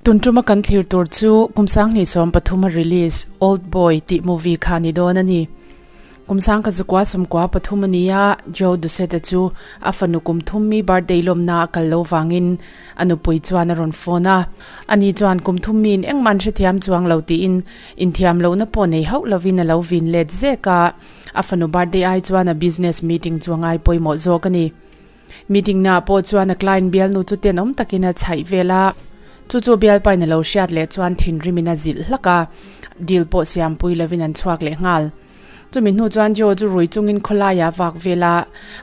Tun tuma kan thlir tur chu kum sang hnih sawm pathuma release old boy tih movie kha ni dawn a ni. Kum sang ka zukua sumkua pathum a ni a, Joe Ducette chu a fanu kum thum mi birthday lawmna a kal lo vangin a nupui chuan a rawn phone a, ani chuan kum thum mi in engmah an hrethiam chuang lo tiin, Inthiam lohna pawh nei hauh lovin a lo vin let zek a, a fanu birthday ai chuan a business meeting chu a ngai pawimawh zawk a ni. Meeting naah pawh chuan a client bialnu chu tenawm takin a chhaih vel a, chu chu Bialpain a lo hriat leh chuan thinrim in a zilh hlak a, deal pawh siampui lovin an chhuak leh nghal. Chumi hnu chuan Joe chu rui chungin khawlaia vak vela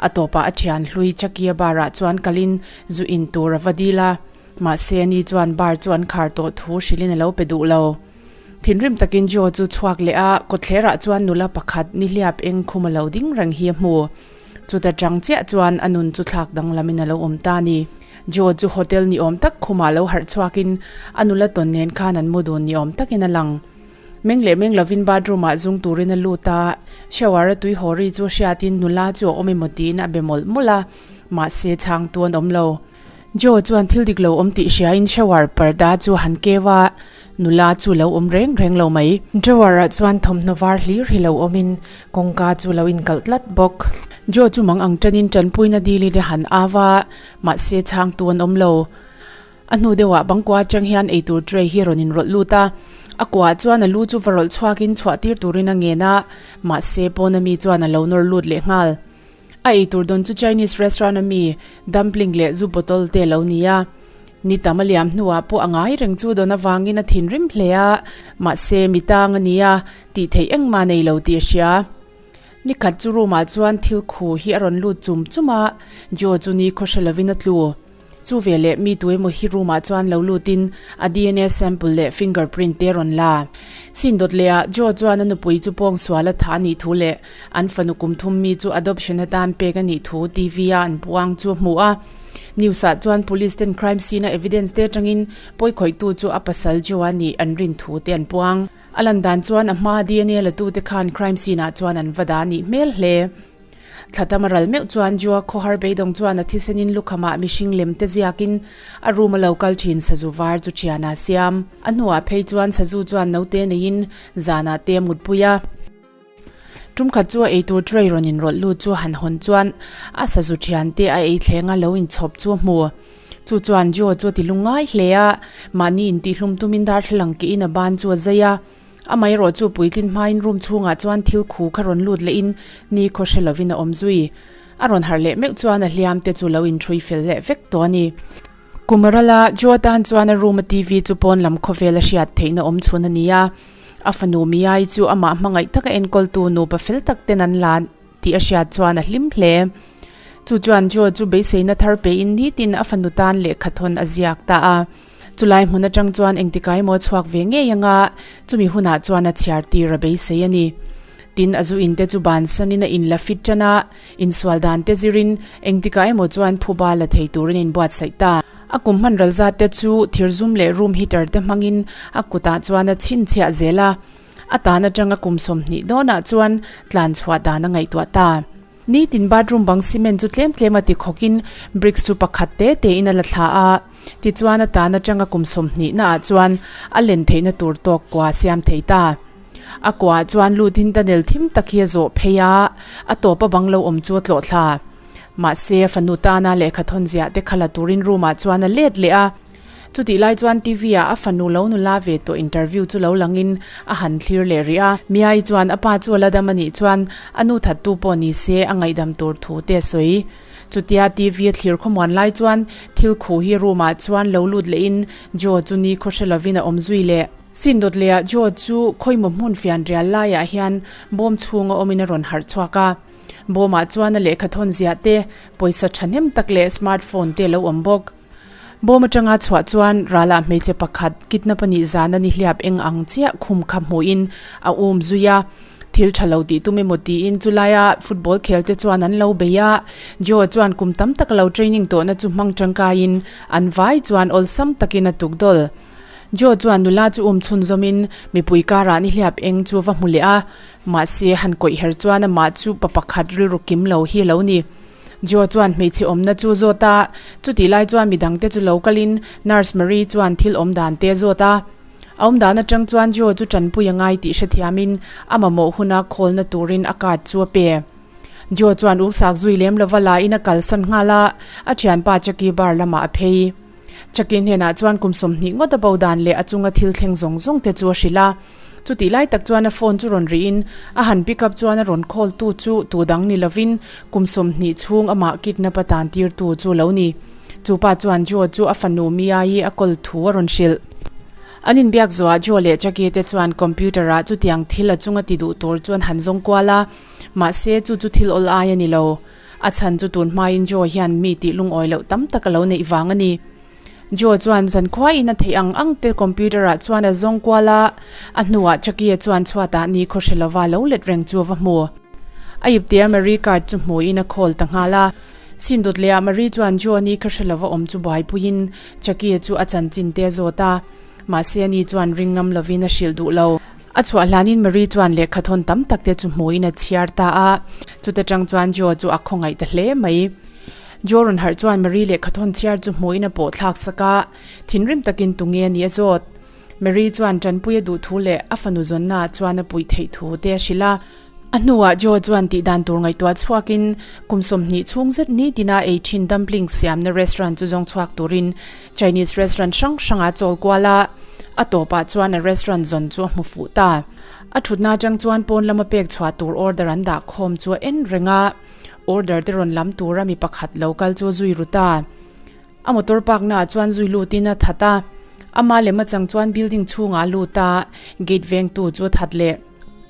a tawpah a thian hlui Chakia barah chuan kalin zu in tur a va dil a, mahse ni chuan bar chu an khar tawh thu hrilhin a lo pe duh lo. Thinrim takin Joe chu chhuak leh a, kawtthlerah chuan nula pakhat nihliap eng khum a lo ding reng hi a hmu. Chuta chang chiah chuan a nun chu thlak danglamin a lo awm ta a ni. Joe chu hotel ni awm tak khumah lo harh chhuakin a nula tawn nen khan an mu dun ni awm takin a lang. Meng leh meng lovin bathroom-ah zung turin a lut a, shower-a tui haw ri chu a hriatin nula chu a awm emaw tiin a be mawlh mawlh a, mahse chhangtu an awm lo. Joe chuan thil dik lo awm tih hriain shower parda chu a han keu a, nula chu lo awm reng reng lo mai. Drawer-ah chuan thawmhnaw var hlir hi lo awmin kawngka chu lo inkalh tlat bawk. Joe chu mang ang tanin tanpuina dil in a han au a, mahse chhangtu an awm lo. A hnu deuhah Bangkua atang hian ei tur tray hi rawn inrawlh lut a, a kuah chuan a lu chu va rawlh chhuakin chhuah tir turin a ngen a, mahse pawn ami chuan a lo nawr lut leh nghal. A ei tur dawn chu Chinese restaurant ami dumpling leh zu bottle te lo ni a, ni tam a liam hnuah pawh a ngai reng chu dawn avangin a thinrim hle a, mahse mi tang a nia tih theih engmah nei lo tih a hria. Ni khat chu room ah chuan thil khu hi a rawn lut chum chum a, Joe chu ni khaw hre lovin a tlu. Chu ve leh mi tu emaw hi room ah chuan lo lut in a DNA sample leh finger print te rawn la. Sin dawt leh ah Joe chuan a nupui chu pawng sual a tha a nih thu leh an fanu kum thum mi chu adoption a tan pek a nih thu TV a an puang chu a hmuh a. News ah chuan police ten crime scene a evidence te atang in pawi khawih tu chu a pasal Joe a nih an rin thu te an puang. A lan dan chuan a hma DNA la tu te khan crime scene ah chuan an va dah a nih hmel hle. Thla tam a ral meuh chuan Jua khawhar beidawng chuan a thisenin lukhamah mihring lem te ziakin a room a lo kal thin sazu var chu thianah siam. A hnuah phei chuan sazu chuan note neiin zanah te a mutpui a. Tumkhat chu a eitur tray rawn inrawlh lut chu han hawn chuan a sazu thian te a eithlengah lo inchhawp chu a hmu. Chu chuan Jua chu a ti lungngai hle a, mahni intih hlum tumin darthlalang keihin a ban chu a zai a. Amaherawh chu puitlin hmain room chhungah chuan thil khu kha rawn lut lehin ni khaw hre lovin a awm zui. A rawn harh leh meuh chuan a hliam te chu lo inthui fel leh vek tawh a ni. Kumarala, Joe tan chuan a room a TV chu pawn lam khawvel a hriat theihna awm chhun a ni a. A fanu Miyai chu amah hmangaih taka enkawltu nupa fel tak ten an la. tih a hriat chuan a hlim hle. Chu chuan Joe chu beiseina thar pein nitin a fanu tan leh khat hawn a ziak ta a. Chulai hmun atang chuan engtikai maw a chhuak ve ngei anga chumi hunah chuan a chhiar tir a beisei a ni. Tin a zu in te chu ban sanin a in la fit tan a, insual dan te zirin engtikah emaw chuan phuba la thei tur an in buatsaih ta. A kum hman ralzat te chu thirzum leh room heater te hmangin a kutah chuan a chhinchhiah zel a. A tan atang a kum sawm hnih dawn ah chuan tlan chhuah dan a ngaihtuah ta. Nitin bathroom bang cement chu tlem tlem a ti khawk in bricks chu pakhat te te in a la thla a. Tichuan a tan atang a kum sawm hnih na ah chuan a len theih na tur tawk kua a siam thei ta. A kua ah chuan lut in tunnel thim tak hi a zawh phei a, a tawp a bang lo awm chu a tlawh thla. Mahse fanu tana lehkha thawn ziah te khalh a tur in room ah chuan a let leh a. Chutih lai chuan TV ah a fanu lo nu la ve tawh interview chu lo lang in a han thlir leh rih a. Miai chuan a pa chu a la dam a nih chuan a nu that tu pawh ni se a ngaihdam tur thu te a sawi. Chutia TV a thlir khawmuan lai chuan thil khu hi room ah chuan lo lut leh in Joe chu nikhaw hre lo in a awm zui leh. Sin dawt leh ah Joe chu khawimawh hmun fian rial lai ah hian bawm chhung a awm in a rawn harh chhuak a. Bawm ah chuan a lehkha thawn ziah te, pawisa thahnem tak leh smartphone te lo awm bawk. Bawm atanga chhuah chuan Rala hmeichhe pakhat kidnap a nih zana nihliap eng ang chiah khum kha hmuhin a um zui a, thil tha lo tih tum emaw tiin chu laia football khelte chuan an lo bei a. Joe chuan kum tam tak lo training tawhna chu hmang tangkaiin an vai chuan awlsam takin a tuk dawl. Joe chuan nula chu um chhunzawmin mipui karah nihliap eng chu va hmu leh a, mahse han kawih her chuan amah chu pa pakhat rilru kim lo hi a lo ni. Joe chuan hmeichhe awmna chu zawt a, chutih lai chuan mi dangte chu lo kal in Nurse Marie chuan thil awm dan te zawt a. A awm dan atang chuan Joe chu tanpui a ngai tih hrethiam in a mamawh huna khawlna turin a card chu a pe. Joe chuan uksak zui lem lova la in a kalsan nghal a, a thianpa Chucky bar lamah a phei. Chucky hnenah chuan kum sawmhnih ngawt a bo dan leh a chunga thil thleng zawng zawng te chu a hrilh a. Chutih lai tak chuan a phone chu rawn rihin a han pick up chuan a rawn call tu chu tu dang ni lovin kum sawmhnih chhung amah kidnap atan tir tu chu lo ni. Chu pa chuan Joe chu a fanu Mia hi a call thu a rawn hrilh. An inbiak zuaah Joe leh Jackie te chuan computer ah chutiang thil a chung a ti duh tur chuan han zawng kual a, mahse chu chu thil awl ai a ni lo. A chhan chu tun hmain Joe hian mi tih lungawi loh tam tak a lo neih vang a ni. Joe chuan zan khuaiin a theih ang ang te computer ah chuan a zawng kual a, a hnuah Chakia chuan chhuat ah ni khaw hre lova lo let reng chu a va hmu. A ip tia Marie card chu hmuin a call ta nghal a, sin dawt leh ah Marie chuan Joe ni kha hre lova awm chu buaipuiin Chakia chu a chanchin te zawt a, mahse a ni chuan ring ngam lovin a hrilh duh lo. A chhuah hlanin Marie chuan lehkha thawn tam tak te chu hmuin a chhiar ta a, chute tang chuan Joe chu a khawngaih ta hle mai. Joe rawn harh chuan Mary leh Khathawn chhiar chu hmuin a pawh thlak sak a, thinrim takin tunge a nih a zawt. Mary chuan Tanpuia duh thu leh a fanu zawnna ah chuan a puih theih thu te a hrilh a. A hnuah Joe chuan tih dan tur ngaihtuah chhuakin kum sawmhnih chhung zet nitina ei thin dumpling siamna restaurant chu zawng chhuak turin Chinese restaurant hrang hrangah a chawl kual a. A tawpah chuan a restaurant zawn chu a hmu fuh ta. A thutna atang chuan pawn lama pek chhuah tur order an dah khawm chu a en reng a. Order te rawn lam tura mi pakhat lo kal chu a zui rut a. A motor park naah chuan zui lutin a that a. Ama lem achang chuan building chhungah a lut a, gate vengtu chu a that leh.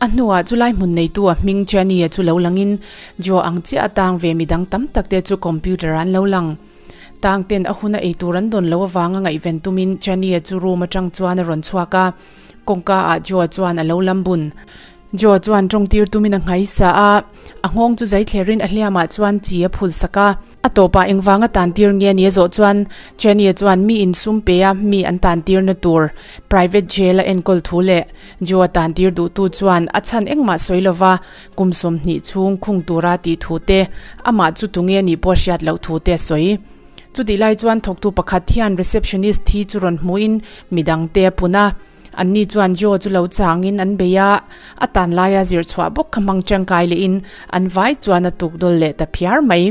A hnuah chu lai hmun neitu a hming Chania chu lo langin Jo ang chiah a tang ve mi dang tam tak te chu computer ah an lo lang. Tang ten a hun a ei tur an dawn loh avanga ngaihven tumin Chania chu room atang chuan a rawn chhuak a. Kawngka ah Joe chuan a lo lam bun. Joe chuan tawng tir tumin a ngai sa a, a nghawng chu zai thler in a hliam ah chuan chi a phul sak a. A tawp ah eng vang a tan tir nge nia zawh chuan Chanie chuan mi in sum pe a mi an tan tir na tur private jail a enkawl thu leh Joe a tan tir duh tu chuan a chhan eng mah sawi lo va, kum sawmhnih chhung khung tur a tih thu te, amah chu tunge nih pawh a hriat loh thu te a sawi. Chutih lai chuan thawktu pakhat hian receptionist thi chu rawn hmuin mi dang te a pun a, anni chuan jaw chu lo changin an bei a, a tan laia zir chhuah bawk kha hmang tangkai leh in an vai chuan a tuk dawl leh ta phiar mai.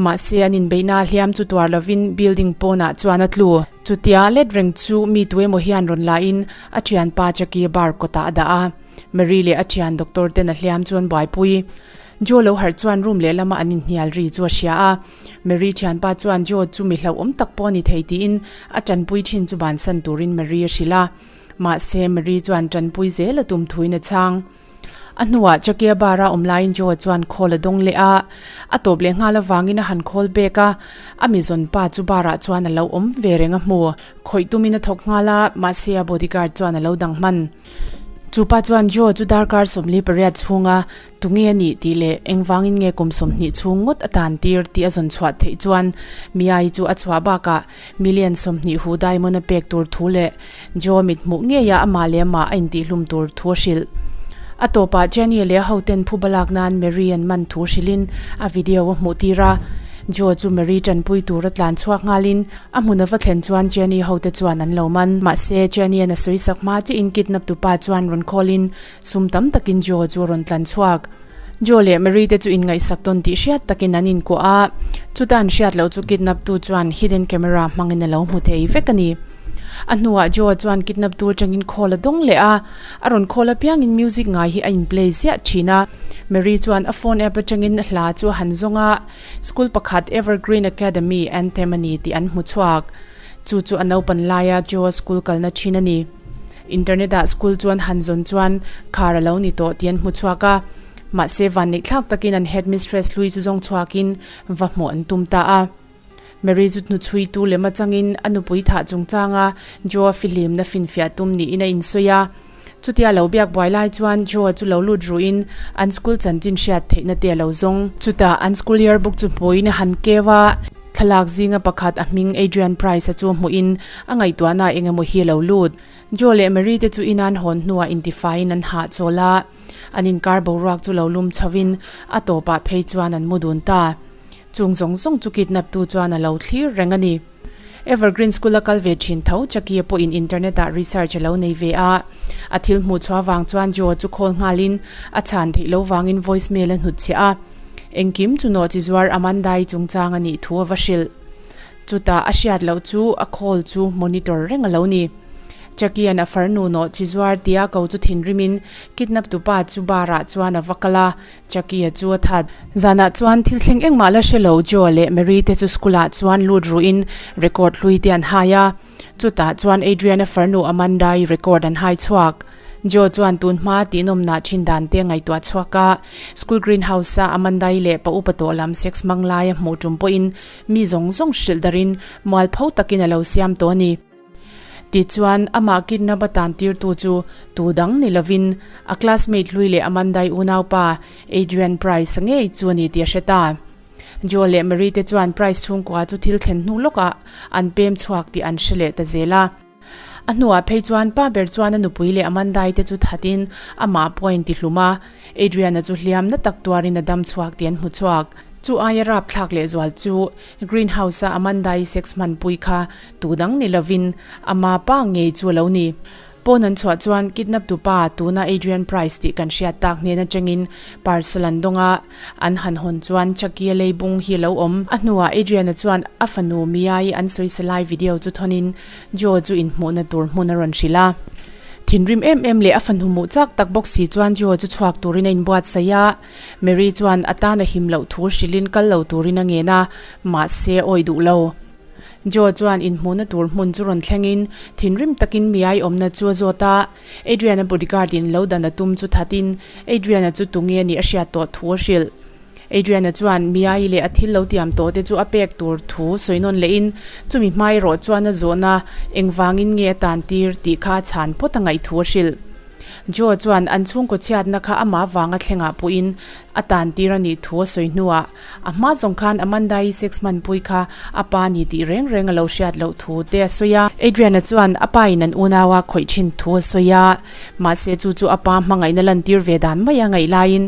Mahse an inbeihna a hliam chu tuar lovin building pawnah chuan a tlu. Chutia let reng chu mi tu emaw hian rawn la in a thian pa Jackie bar kawtah a dah a, Mary leh a thian doctor ten a hliam chuan buaipui jaw lo harh chuan room leh lama an inhnial ri chu a hria a, Mary thianpa chuan Joe chu mi hlauhawm tak pawh a ni thei tiin a tanpui thin chu bansan turin Mary a hrilh a. Mahse, Mary chuan tanpui zel a tum thuin a chang. A hnuah Chakia bara awm laiin Joe chuan khawl a dawng leh a. A tawp leh nghal avangin a han khawl bek a. A mizawn pa chu barah chuan a lo awm ve reng a hmu. Khawih tumin a thawk nghal a, mahse a bodyguard chuan a lo dang hman. Chupa chuan Joe chu darkar sawmli pariat chhunga Tunge a nih tih leh engvangin nge kum sawmhnih chhung ngawt a tan tir tih a zawn chhuah theih chuan Miai chu a chhuah bakah Million sawmhnih hu diamond a pek tur thu leh Joe-a mit hmuh ngei a amah leh amah a intihhlum tur thu a hrilh. A tawpah Jenny leh a hoten phu balak nan Mary an man thu hrilhin a video a hmuh tir a. Joe chu Mary tanpui tur a tlan chhuak ngalin a hmun a va thlen chuan Jenny hote chuan an lo man. Mahse, Jenny-a na sawisak hma chiahin kidnaptu pa chuan rawn call in Sum tam takin Joe chu a rawn tlan chhuak. Joe leh Mary te chu inngaihsak dawn tih hriat takin an inkuah a. Chutah an hriat loh chu kidnap tu chuan hidden camera hmangin a lo hmu thei vek a ni. A hnuah Joe chuan kidnap tu atangin call a dawng leh a. A rawn call apiangin music ngai hi a inplay ziah thin a. Mary chuan a phone app atangin a hla chu a han zawng a. School pakhat Evergreen Academy anthem a ni tih an hmu chhuak. Chu chu a naupan laia Joe-a school kalna thin a ni. Internet ah school chuan han zawn chuan khar a lo ni tawh tih an hmu chhuak a, mahse van neih thlak takin an headmistress hlui chu zawng chhuakin va hmuh an tum ta a. Mary chu hnuchhuitu lem achangin a nupui thah chungchanga Joe-a fihlimna finfiah tum niin a insawi a. Chuti a lo biak buai lai chuan Joe-a chu lo lut ruhin an school chanchin hriat theihna te a lo zawng. Chutah an school yearbook chu hmuin han keu a. Thlalak zinga pakhat a hming Adrian Price-a chu hmuhin a ngaihtuahnaah eng emaw hi a lo lut. Joe leh Mary te chu inan hawn hnuah intifaiin an hah chawl a, an inkar boruak chu lo lum chauhin a tawpah phei chuan an mu dun ta. Chung zawng zawng chu kidnaptu chuan a lo thlir reng a ni. Evergreen School-a kal ve thin tho Jackie-a pawhin internet-ah research a lo nei ve a. A thil hmuhchhuah vang chuan Joe-a chu khawl nghalin a chhan theih lo vangin voicemail a hnutchhiah a. Engkim chu naw chi zuar Amanda-i chungchang a nih thu a va hrilh. Chutah a hriat loh chu a call chu monitor reng a lo ni. Jackie-an a far nu naw chi zuar tia ko chu thinrimin kidnap tu pa chu bar-ah chuan a va kal a, Jackie-a chu a that. Zanah chuan thil thleng engmah la hre lo Joe leh Mary-te chu school-ah chuan lut ruhin record hlui te an hai a. Chutah chuan Adriana farnu Amanda-i record an hai chhuak. Joe chuan tun hmaa tihnawmnah thin dan te a ngaihtuah chhuak a. School greenhouse-a Amanda-i leh pa upa tawh lam sex hmang laia hmuh tum pawhin mi zawng zawng hrilh darin mual pho takin a lo siam tawh a ni. Tih chuan amah kidnap atan tirtu chu tu dang ni lovin a classmate hlui leh Amanda-i unaupa Adrian Price ngei chu a ni tih a hre ta. Joe leh Mary te chuan prize chhungkua chu thil thlen hnu lawkah an pem chhuak tih an hre leh ta zel a. A hnuah phei chuan pa ber chuan a nupui leh a mandai te chu thatin amah pawh a intihlum a, Adriana chu hliam na tak tuarin a dam chhuak tih an hmu chhuak. Chu aia rapthlak lehzual chu Greenhouse-a a mandai sex hmanpui kha tu dang ni lovin ama pa ngei chu a lo ni. Pawn an chhuah chuan kidnap tupa tuna Adrian Price tih kan hriat tak hnen atangin Parsalan dawnga an han hawn chuan Chakia leibung hi a lo awm. A hnuah Adrian-a chuan a fanu Mia-i an sawisa lai video chu thawn-in Joe chu inhmuhna tur hmun a rawn hrilh a. Thinrim em em leh a fanu muh chak tak bawk si chuan Joe chu chhuak turin a inbuatsaih a. Mary chuan a tan a him loh thu hrilhin kal lo turin a ngen a, mahse awi duh lo. Joe chuan inhmuhna tur hmun chu rawn thlengin thinrim takin miai awmna chu a zawt a. Adrian-a bodyguard in lo dan a tum chu thatin Adrian-a chu tunge a nih a hriat tawh thu a hrilh. Adrian-a chuan miai leh a thil lo tiam tawh te chu a pek tur thu sawi nawn leh in chumi hma erawh chuan a zawh na engvangin nge a tan tir tih kha a chhan phawt a ngaih thu a hrilh. Joe chuan an chhungkaw chhiatna kha amah vanga thlengah puhin a tan tir a nih thu a sawi hnuah A hma zawng khan Amanda-i sex man pui kha a pa ni tih reng reng a lo hriat loh thu te a sawi a. Adrian-a chuan a pa in an unau a khawih thin thu a sawi a, mahse chu chu a pa hmangaihna lantir ve dan mai a ngaih laiin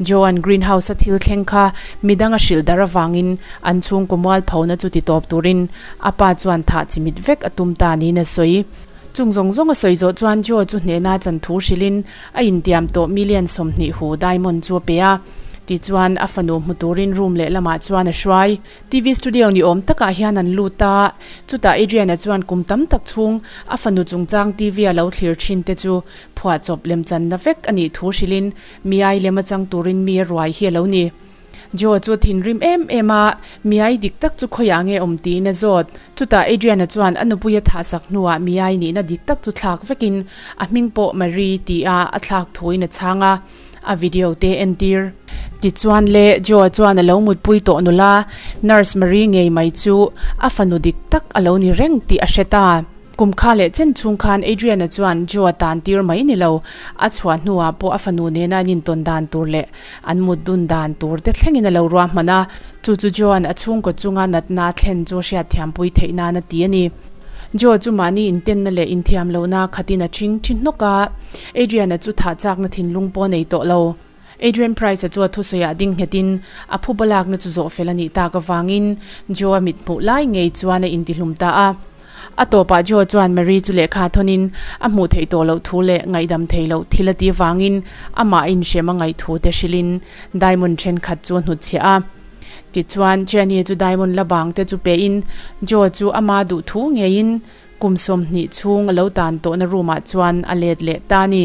Joan Greenhouse-a thil thleng kha mi danga hrilh darh avangin an chhungkaw mual pho na chu ti tawp turin a pa chuan thah chi mit vek a tum ta niin a sawi. Chung zawng zawng a sawi zawh chuan Joe chu hnehna chan thu hrilhin A intiam tawh million sawmhnih hu diamond chu a pe a, tichuan a fanu hmu turin room leh lamah chuan a hruai. TV studio ni awm takah hian an lut a, chutah Adrian-a chuan kum tam tak chhung a fanu chungchang TV a lo thlir thin te chu phuah chawp lemchanna vek a nih thu hrilhin miai lem a chang turin mi a ruai hi a lo ni. Joe chu a thinrim em em a, Miai dik tak chu khawiah nge awm tiin a zawt. Chutah Adrian-a chuan a nupui a thah sak hnuah Miai nihna dik tak chu thlak vekin, A hming pawh Marie ti a a thlak thuin a chhang a, a video te en tir. Tichuan le, Joe-a chuan a lo mutpui tawh nula, Nurse Marie ngei mai chu a fanu dik tak a lo ni reng tih a hre ta. Kum kha leh chen chung khan Adrian-a chuan Joe-a tan tir mai ni lo. A chhuah hnuah pawh a fanu nena an intawn dan tur leh an mut dun dan tur te thlengin a lo ruahman a. Chu chu Joe-an a chhungkaw chunga natna a thlen chu a hriat thiampui theih nan a ti a ni. Joe chu mahni intenna leh inthiam lohna khatin a ṭhing ṭhi hnawk a. Adrian-a chu thah chakna thinlung pawh a nei tawh lo. Adrian Price-a chu a thusawiah ding nghetin a phu balakna chu zawh fel a nih tak avangin Joe-a mithmuh lai ngei chuan a intihlum ta a. A tawpah Joe chuan Mary chu lehkha thawnin a hmuh theih tawh loh thu leh ngaihdam thei loh thil a ti avangin amah inhrem a ngaih thu te hrilhin diamond thenkhat chu a hnut chhiah a. Tichuan, Jennie-a chu diamond la bang te chu pehin Joe chu a ma duh thu ngeiin kum sawmhnih chhung a lo tan tawhna room-ah chuan a let leh ta a ni.